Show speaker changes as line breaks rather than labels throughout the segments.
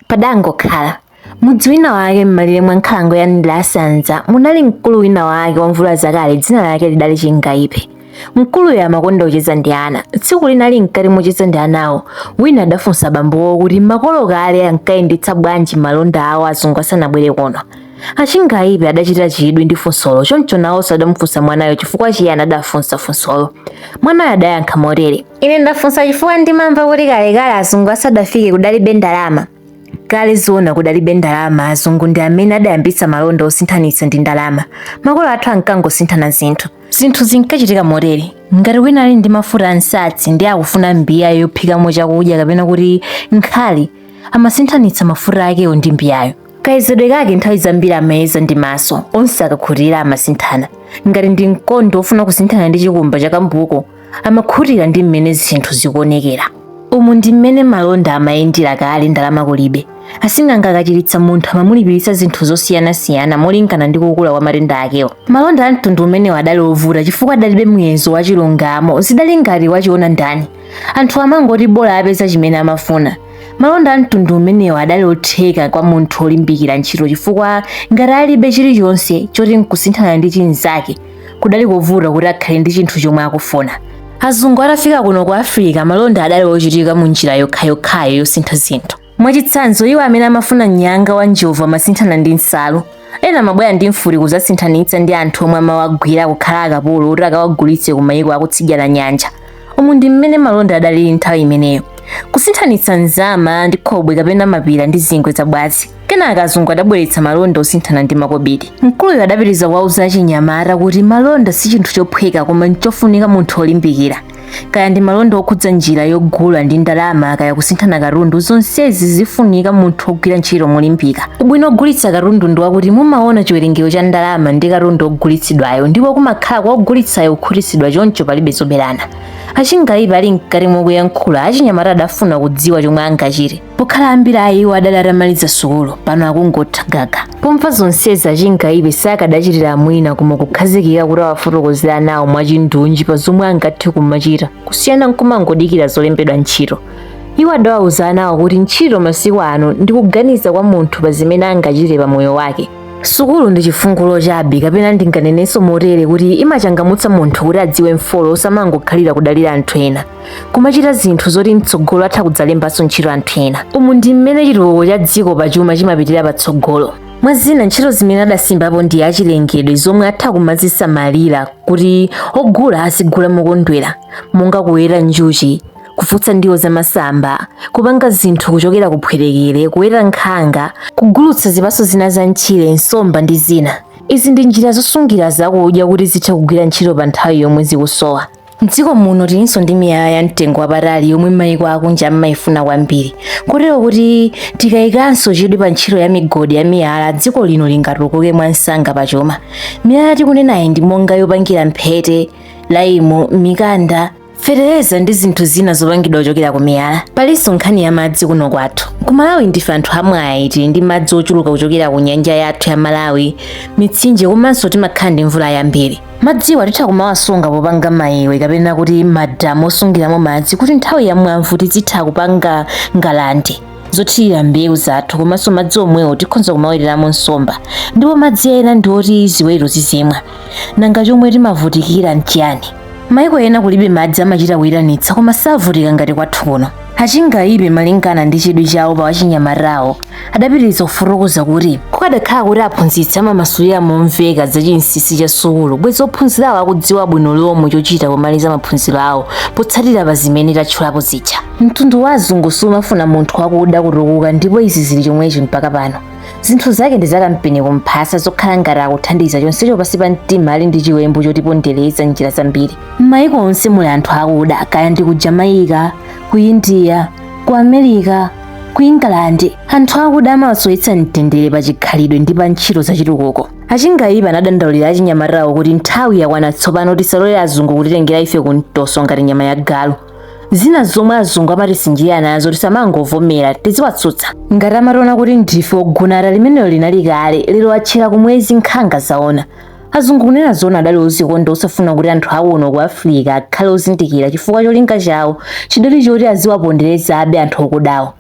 Padangokhala. Mudzi wina wake m'malire mwa nkhalango ya Ndilasanza munali mkulu wina wake wa mvula zakale dzina lake lidali Chingaipe. Mkuluyo amakonda kucheza ndi ana. Tsiku lina ali mkati mocheza ndi anawo, wina adafunsa bambowo kuti makolo kale ankayendetsa bwanji malonda awo azungu asanabwere kuno. Achingaipe adachita chidwi ndi funsolo, choncho nawonso adamufunsa mwanayo chifukwa chiyani adafunsa funsolo. Mwanayo adayankha motere. Ine ndafunsa chifukwa ndimamva kuti kalekale azungu asadafike kudalibe ndalama. Kale zoona kudalibe ndalama, azungu ndi amene adayambitsa malonda osinthanitsa ndi ndalama. Makolo athu ankangosinthana zinthu. Zinthu zinkachitika motere. Ngati wina ali ndi mafuta a nsatsi ndi akufuna mbiya yophikamo chakudya kapena kuti nkhali, amasinthanitsa mafuta akewo ndi mbiyayo. kayezedwe kake nthawi zambiri amayeza ndi maso onse akakhutira amasinthana ngati ndi mkondo wofuna kusinthana ndi chikumba cha kambuku amakhutira ndi mmene zinthu zikuonekera umu ndi mmene malonda amayendera kale ndalama kulibe asing'anga akachiritsa munthu amamulipiritsa zinthu zosiyanasiyana molingana ndi kukula kwa matenda akewo malonda a mtundu umenewo adali ovuta chifukwa adalibe muyezo wa chilungamo zidali ngati wachiona ndani anthu amangoti bola apeza chimene amafuna malonda a mtundu umenewo adali otheka kwa munthu olimbikira ntchito chifukwa ngati alibe chilichonse choti nkusinthana ndi chinzake kudali kovuta kuti akhale ndi chinthu chomwe akufuna azungu atafika kuno ku africa malonda adali ochitika mu njira yokhayokhayo yosintha zinthu Mwachitsanzo, iwo amene amafuna mnyanga wa njovu amasinthana ndi nsalu. Ena amabwera ndi mfuti kudzasinthanitsa ndi anthu omwe amawagwira kukhala akapolo kuti akawagulitse ku mayiko akutsidya la nyanja. Umu ndi mmene malonda adalili nthawi imeneyo. Kusinthanitsa nzama ndi khobwe kapena mapira ndi zingwe za bwazi. Kenaka azungu adabweretsa malonda osinthana ndi makobiri. Mkuluyo adapitiriza kuwauza achinyamata kuti malonda si chinthu chophweka koma nchofunika munthu olimbikira. kaya ndi malonda okhudza njira yogula ndi ndalama kaya kusinthana katundu zonsezi zifunika munthu ogwira ntchito molimbika ubwino ogulitsa katundu ndi wakuti mumaona chiwerengero cha ndalama ndi katundu ogulitsidwayo ndipo kumakhala kwa ogulitsayo kukhutitsidwa choncho palibe zoberana achingaipe ali mkati mokuyankhula achinyamata adafuna kudziwa chomwe angachite pokhala ambiri a iwo adali atamaliza sukulu pano akungotha gaga pomva zonsezi achingaipe sakadachitira mwina koma kukhazikika kuti awafotokozere anawo mwachindunji pa zomwe angathe kumachita kusiyana nkumangodikira zolembedwa ntchito iwo adawauza anawo kuti ntchito masiku ano ndi kuganiza kwa munthu pa zimene angachite pa moyo wake sukulu ndi chifungulo chabe kapena ndinganenenso motere kuti imachangamutsa munthu kuti adziwe mfolo osamangokhalira kudalira anthu ena kumachita zinthu zoti mtsogolo atha kudzalembanso ntchito anthu ena umu ndi mmene chitukuko cha dziko pa chuma chimapitira patsogolo mwa zina ntchito zimene adasimbapo ndi achilengedwe zomwe atha kumazisamalira kuti ogula azigula mokondwera monga kuweta njuchi kufutsa ndiwo zamasamba kupanga zinthu kuchokera kuphwetekere kuweta nkhanga kugulutsa zipatso zina za mtchire nsomba ndi zina izi ndi njira zosungira zakudya kuti zithe kugwira ntchito pa nthawi yomwe zikusowa M'dziko muno tilinso ndi miyala ya mtengo wapatali yomwe maiko akunja amaifuna kwambiri kotero kuti tikayikanso chidwi pa ntchito ya migodi ya miyala dziko lino lingatukuke mwamsanga pa chuma. Miyala tikunenayi ndi monga yopangira mphete, laimu, mikanda, fetereza ndi zinthu zina zopangidwa kuchokera ku miyala. Palinso nkhani ya madzi kuno kwathu. Ku Malawi ndife anthu amwayi tili ndi madzi ochuluka kuchokera ku nyanja yathu ya Malawi, mitsinje komanso timakhala ndi mvula yambiri. madziwa titha kumawasunga popanga mayiwe kapena kuti madamu osungiramo madzi kuti nthawi ya mwamvu tizitha kupanga ngalande zothirira mbewu zathu komanso madzi omwewo tikhonza kumaweteramo nsomba ndipo madzi ena ndi oti ziweto zizimwa nanga chomwe timavutikira nchiyani maiko ena kulibe madzi amachita kuyitanitsa koma savutika ngati kwathu kuno achingaipe malingana ndi chidwi chawo pa wachinyamatawo adapitiriza kufotokoza kuti kukadakhala kuti aphunzitsi amamasulira momveka za chinsinsi cha sukulu bwezi ophunzirawo akudziwa bwino lomwe chochita pomaliza maphunziro awo potsatira pa zimene tatchulapo zija mtundu wa azungu sumafuna munthu wakuda kutukuka ndipo izi zili chomwechi mpaka pano zinthu zake ndi zakampeni kumphasa zokhala ngati akuthandiza chonsecho pansi pa mtima ali ndi chiwembu chotipondereza njira zambiri m'mayiko onse muli anthu akuda kaya ndi ku jamaica ku india ku america ku england anthu akuda amawasowetsa mtendere pa chikhalidwe ndi pa ntchito zachitukuko achingaipe anadandaulira achinyamatawo kuti nthawi yakwana tsopano tisalole azungu kutitengera ife ku mtoso ngati nyama ya galu zina zomwe azungu amatisinjirira nazo tisamangovomera tiziwatsutsa ngati amationa kuti ndife ogunata limenelo linali kale lero atchera kumwezi nkhanga zaona azungu kunena zona adali ozikonda osafuna kuti anthu akuno ku africa akhale ozindikira chifukwa cholinga chawo chidali choti aziwaponderezabe anthu okudawo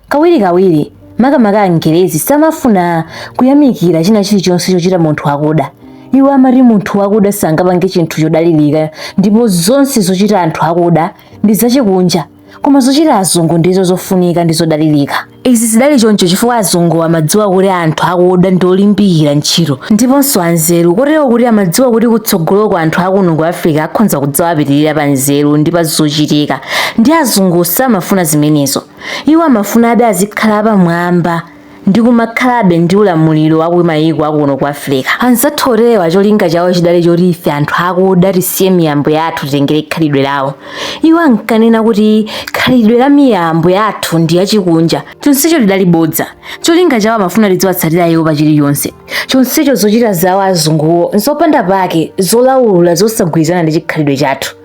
kawirikawiri makamaka angerezi samafuna kuyamikira china chilichonse chochita munthu wakuda iwo amati munthu wakuda sangapange chinthu chodalirika ndipo zonse zochita anthu akuda ndi zachikunja koma zochita azungu ndizo zofunika ndi zodalirika izi zidali choncho chifukwa azungu amadziwa kuti anthu akuda ndi olimbikira ntchito ndiponso anzeru kotero kuti amadziwa kuti kutsogoloko anthu akuno ku africa akhonza kudzawapitirira pa nzeru ndi pa zochitika ndi azungu samafuna zimenezo iwo amafunabe azikhala pamwamba ndi kumakhalabe ndi ulamuliro wa ku mayiko akuno ku Africa. Anzathu oterewa cholinga chawo chidali choti ife anthu akuda tisiye miyambo yathu titengere khalidwe lawo. Iwo ankanena kuti khalidwe la miyambo yathu ndi yachikunja. Chonsecho lidali bodza. Cholinga chawo amafuna tidziwatsatira iwo pa chilichonse. Chonsecho zochita zawo azunguwo nzopanda pake, zolaula, zosagwirizana ndi chikhalidwe chathu.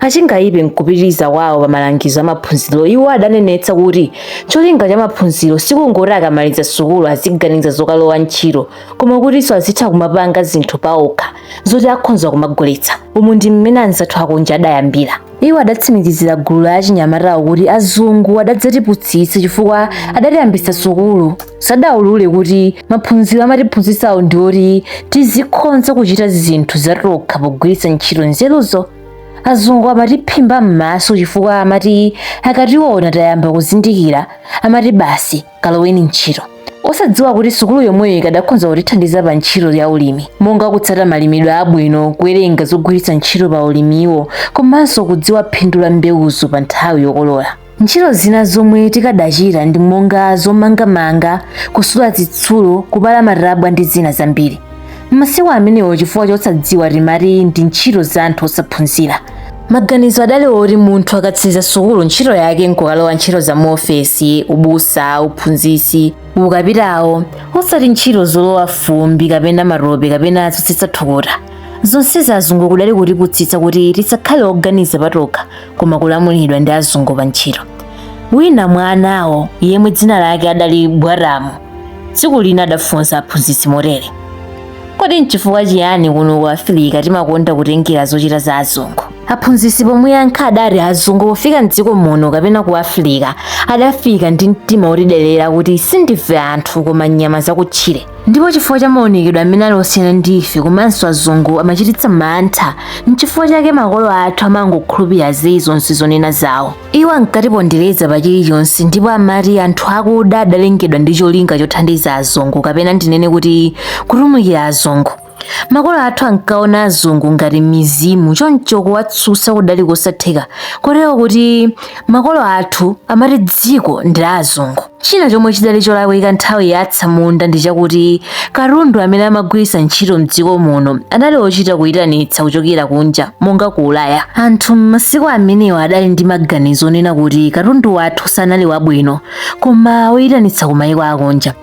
Achingaipe m'kupitiriza kwawo pa malangizo a maphunziro, iwo adanenetsa kuti cholinga cha maphunziro sikungoti akamaliza sukulu aziganiza zokalowa ntchito koma kutinso azitha kumapanga zinthu paokha zoti akhonza kumagulitsa. Umu ndi mmene anzathu akunja adayambira. Iwo adatsimikizira gulu la achinyamatawo kuti azungu adadzatiputsitsa chifukwa adatiyambitsa sukulu. Sadaulule kuti maphunziro amatiphunzitsawo ndi oti tizikhonza kuchita zinthu zatokha pogwiritsa ntchito nzeruzo. azungu amatiphimba m'maso chifukwa amati akationa tayamba kuzindikira amati basi kaloweni ntchito osadziwa kuti sukulu yomweyo ikadakhonza kutithandiza pa ntchito ya ulimi monga kutsata malimidwe abwino kuwerenga zogwiritsa ntchito pa ulimiwo komanso kudziwa phindu la mbewuzo pa nthawi yokolola Ntchito zina zomwe tikadachita ndi monga zomangamanga, kusula zitsulo, kupala matabwa ndi zina zambiri. M'masiku amenewo chifukwa chosadziwa timati ndi ntchito za anthu osaphunzira. Maganizo adali oti munthu akatsiriza sukulu ntchito yake n'kukalowa ntchito za muofesi, ubusa, uphunzitsi, ukapitawo, osati ntchito zolowa fumbi kapena matope kapena zotsitsa thukuta. Zonse za azungu kudali kutiputsitsa kuti tisakhale oganiza patokha koma kulamulidwa ndi azungu pa ntchito wina mwa anawo yemwe dzina lake adali bwaramu tsiku lina adafunsa aphunzitsi motere kodi nchifukwa chiyani kuno ku afirika timakonda kutengera zochita za azungu aphunzitsi pomuyankha adati azungu pofika mdziko muno kapena ku afirika adafika ndi mtima wotidelera kuti sindife anthu koma nyama zakutchire ndipo chifukwa cha maonekedwe amene ali osiyana ndi ife komanso azungu amachititsa mantha nchifukwa chake makolo athu amangokhulupirira zeyi zonse zonena zawo iwo ankatipondereza pa chilichonse ndipo amati anthu akuda adalengedwa ndi cholinga chothandiza azungu kapena ndinene kuti kutumikira azungu Makolo athu ankaona azungu ngati mizimu, choncho kuwatsutsa kudali kosatheka kotero kuti makolo athu amati dziko ndi la azungu. China chomwe chidali cholakwika nthawi ya atsamunda ndi chakuti katundu amene amagwiritsa ntchito m'dziko muno anali ochita kuitanitsa kuchokera kunja monga ku Ulaya. Anthu m'masiku amenewa adali ndi maganizo onena kuti katundu wathu sanali wabwino koma oitanitsa ku maiko akunja.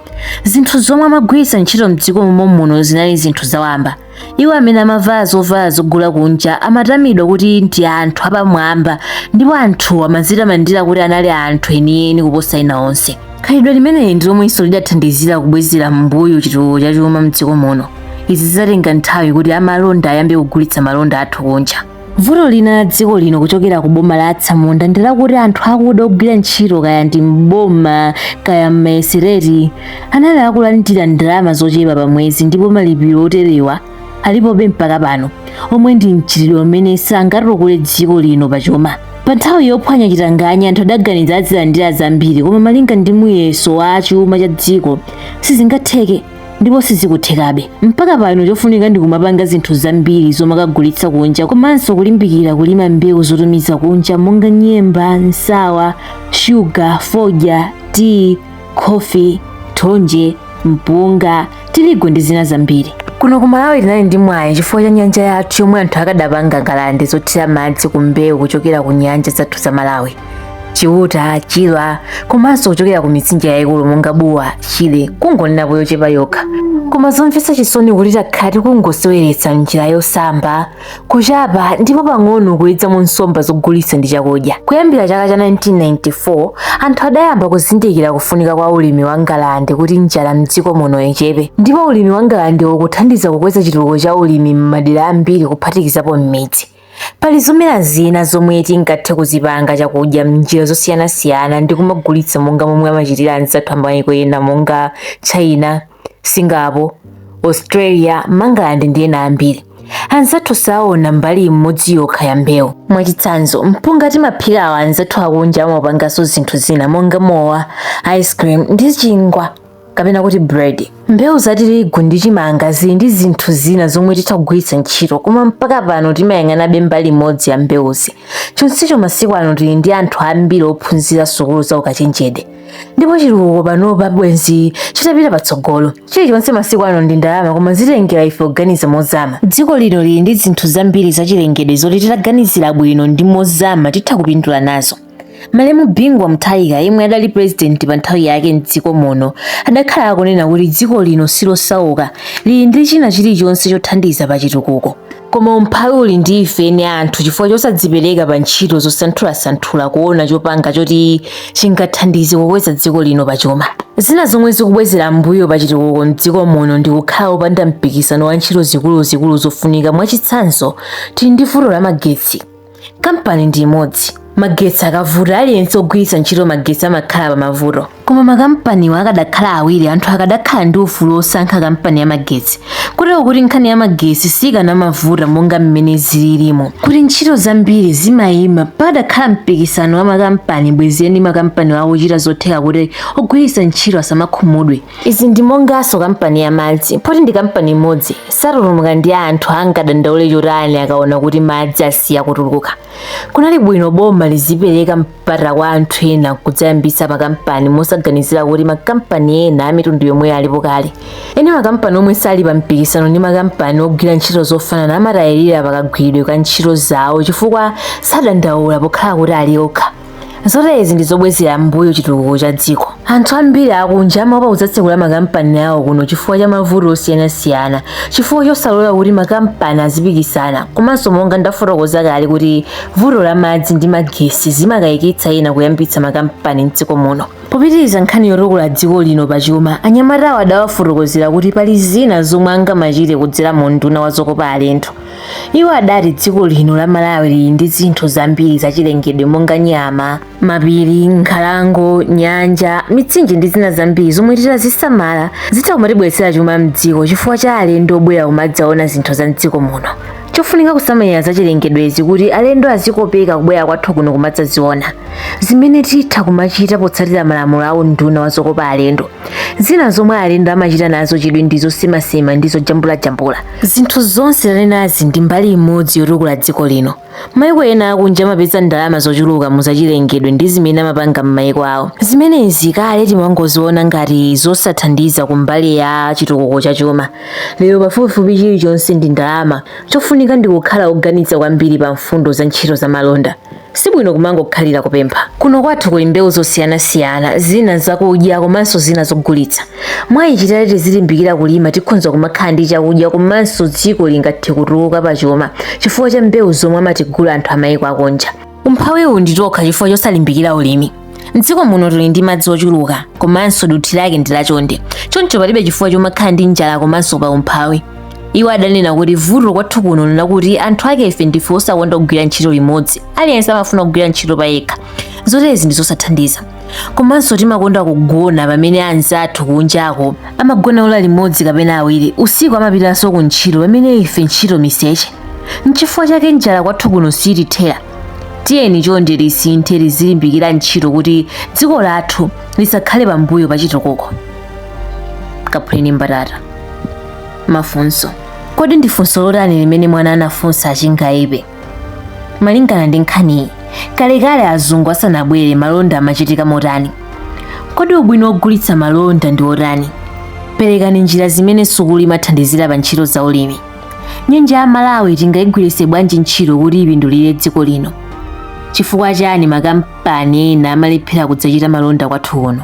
zinthu zomwe amagwiritsa ntchito mdziko momwe muno zinali zinthu zawamba iwo amene amavala zovala zogula kunja amatamidwa kuti ndi anthu apamwamba ndipo anthuwa amadzitamandira kuti anali anthu enieni kuposa ena onse khalidwe limeneli ndi lomwenso lidathandizira kubwezera m'mbuyo chitukuko cha chuma mdziko muno izi zidatenga nthawi kuti amalonda ayambe kugulitsa malonda athu kunja vuto lina la dziko lino kuchokera ku boma la atsamunda ndi lakuti anthu akuda ogwira ntchito kaya ndi mboma kaya mmayesiteti anali akulandira ndalama zochepa pa mwezi ndipo malipiro oterewa alipobe mpaka pano omwe ndi mchitidwe umene sangatukule dziko lino pachuma pa nthawi yophwanya chitanganya anthu adaganiza azilandira zambiri koma malinga ndi muyeso wa chuma cha dziko sizingatheke ndipo sizikuthekabe mpaka pano chofunika ndi kumapanga zinthu zambiri zomakagulitsa kunja komanso kulimbikira kulima mbewu zotumiza kunja monga nyemba nsawa shuga fodya tiyi khofi thonje mpunga tirigu ndi zina zambiri kuno ku malawi tinali ndi mwayi chifukwa cha nyanja yathu yomwe anthu akadapanga ngalande zothira madzi ku mbewu kuchokera ku nyanja zathu za malawi chiuta chilwa komanso kuchokera ku mitsinje yayikulu monga buwa shire kungonenapo yochepa yokha koma zomvetsa chisoni kuti takhala tikungoseweretsa njira yosamba kuchapa ndipo pang'ono kuwedzamo nsomba zogulitsa ndi chakudya kuyambira chaka cha 1994 anthu adayamba kuzindikira kufunika kwa ulimi wa ngalande kuti njala mdziko muno ichepe ndipo ulimi wa ngalande ukuthandiza kukweza chitukuko cha ulimi m'madera ambiri kuphatikizapo m'midzi Pali zomera zina zomwe tingathe kuzipanga chakudya m'njira zosiyanasiyana ndi kumagulitsa monga momwe amachitira anzathu amayiko ena monga China, Singapore, Australia, Mangalande ndi ena ambiri. Anzathu saona mbali imodzi yokha ya mbewu. Mwachitsanzo, mpunga timaphikawu anzathu akunja amaupanganso zinthu zina monga mowa, ice cream ndi chingwa. kapena kuti bread mbewu za tirigu ndi chimanga zili ndi zinthu zina zomwe titha kugwiritsa ntchito koma mpaka pano timayang'anabe mbali imodzi ya mbewuzi chonsecho masiku ano tili ndi anthu ambiri ophunzira sukulu za ukachenjede ndipo chitukuko panopa bwenzi chitapita patsogolo chilichonse masiku ano ndi ndalama koma zitengera ife kuganiza mozama dziko lino lili ndi zinthu zambiri zachilengedwe zoti titaganizira bwino ndi mozama titha kupindula nazo Malemu Bingu wa Mutharika yemwe adali pulezidenti pa nthawi yake m'dziko muno adakhala akunena kuti dziko lino silosauka lili ndi china chilichonse chothandiza pa chitukuko koma umphawi uli ndi ife eni anthu chifukwa chosadzipereka pa ntchito zosanthulasanthula kuona chopanga choti chingathandize kukweza dziko lino pa chuma zina zomwe zikubwezera mbuyo pa chitukuko m'dziko muno ndi kukhala opanda mpikisano wa ntchito zikuluzikulu zofunika mwachitsanzo tili ndi vuto la magetsi kampani ndi imodzi magetsi akavuta aliyense ogwiritsa ntchito magetsi amakhala pa mavuto koma makampaniwo akadakhala awiri anthu akadakhala ndi ufulu wosankha kampani ya magetsi kotero kuti nkhani ya magetsi sikanamavuta monga mmene zililimo kuti ntchito zambiri zimayima pakadakhala mpikisano wa makampani bwezi eni makampani awowo akuchita zotheka kuti ogwiritsa ntchito asamakhumudwe Izi ndi monganso kampani ya madzi. Poti ndi kampani imodzi, satutumuka ndi anthu angadandaule chotani akaona kuti madzi asiya kutuluka. Kunali bwino boma lizipereka mpata kwa anthu ena kudzayambitsa makampani mosaganizira kuti makampani ena a mitundu yomweyo alipo kale. Eni makampani omwe sali pa mpikisano ndi makampani ogwira ntchito zofanana amatayirira pakagwiridwe ka ntchito zawo chifukwa sadandaula pokhala kuti ali okha. zotezi ndi zobwezera m'mbuyo chitukuko cha dziko anthu ambiri akunja amaopa kudzatsekula makampani awo kuno chifukwa cha mavuto osiyanasiyana chifukwa chosalola kuti makampani azipikisana komanso monga ndafotokoza kale kuti vuto la madzi ndi magesi zimakayikitsa ena kuyambitsa makampani mdziko muno popitiriza nkhani yotukula dziko lino pa chuma anyamatawo adawafotokozera kuti pali zina zomwe angamachite kudzera mu unduna wa zokopa alendo iwo adati dziko lino la malawi lili ndi zinthu zambiri zachilengedwe monga nyama mapiri nkhalango nyanja mitsinje ndi zina zambiri zomwe titazisamala zitha kumatibweretsera chuma mdziko chifukwa cha alendo obwera kumadzaona zinthu za mdziko muno chofunika kusamalira zachilengedwezi kuti alendo azikopeka kubwera kwathu kuno kumadzaziona zimene titha kumachita potsatira malamulo a unduna wa zokopa alendo zina zomwe alendo amachita nazo chidwi ndi zosemasema ndi zojambulajambula zinthu zonse tanenazi ndi mbali imodzi yotukula dziko lino maiko ena akunja amapeza ndalama zochuluka mu zachilengedwe ndi zimene amapanga m'maiko awo zimenezi kale timangoziona ngati zosathandiza ku mbali ya chitukuko cha chuma lero pafupifupi chilichonse ndi ndalama chofunika ndi kukhala oganitsa kwambiri pa mfundo za ntchito za malonda Sibwino kumangokhalira kupempha. Kuno kwathu kuli mbewu zosiyanasiyana, zina zakudya komanso zina zogulitsa. Mwa ichi titati tizilimbikira kulima tikhonza kumakhala ndi chakudya komanso dziko lingathe kutukuka pachuma chifukwa cha mbewu zomwe amatigula anthu amayiko akunja. Umphawiwu ndi tokha chifukwa chosalimbikira ulimi. mdziko muno tili ndi madzi ochuluka komanso dothi lake ndi lachonde choncho palibe chifukwa chomakhala ndi njala komanso pa umphawi iwo adanena kuti vuto kwathu kuno nlakuti anthu ake ife ndife osakonda kugwira ntchito limodzi aliyense amafuna kugwira ntchito pa yekha zotezi ndi zosathandiza komanso timakonda kugona pamene anzathu kunjako amagona ola limodzi kapena awiri usiku amapitanso ku ntchito pamene ife ntchito miseche nchifukwa chake njala kwathu kuno siitithera tiyeni chonde tisinthe tizilimbikira ntchito kuti dziko lathu lisakhale pambuyo pa chitukuko kaphuleni mbatata mafunso kodi ndi funso lotani limene mwana anafunsa atChingaipe malingana ndi nkhaniyi kalekale azungu asanabwere malonda amachitika motani kodi ubwino wogulitsa malonda ndi wotani perekani njira zimene sukulu imathandizira pa ntchito za ulimi nyanja ya malawi tingayigwiritse bwanji ntchito kuti ipindulire dziko lino chifukwa chani makampani ena amalephera kudzachita malonda kwathu kuno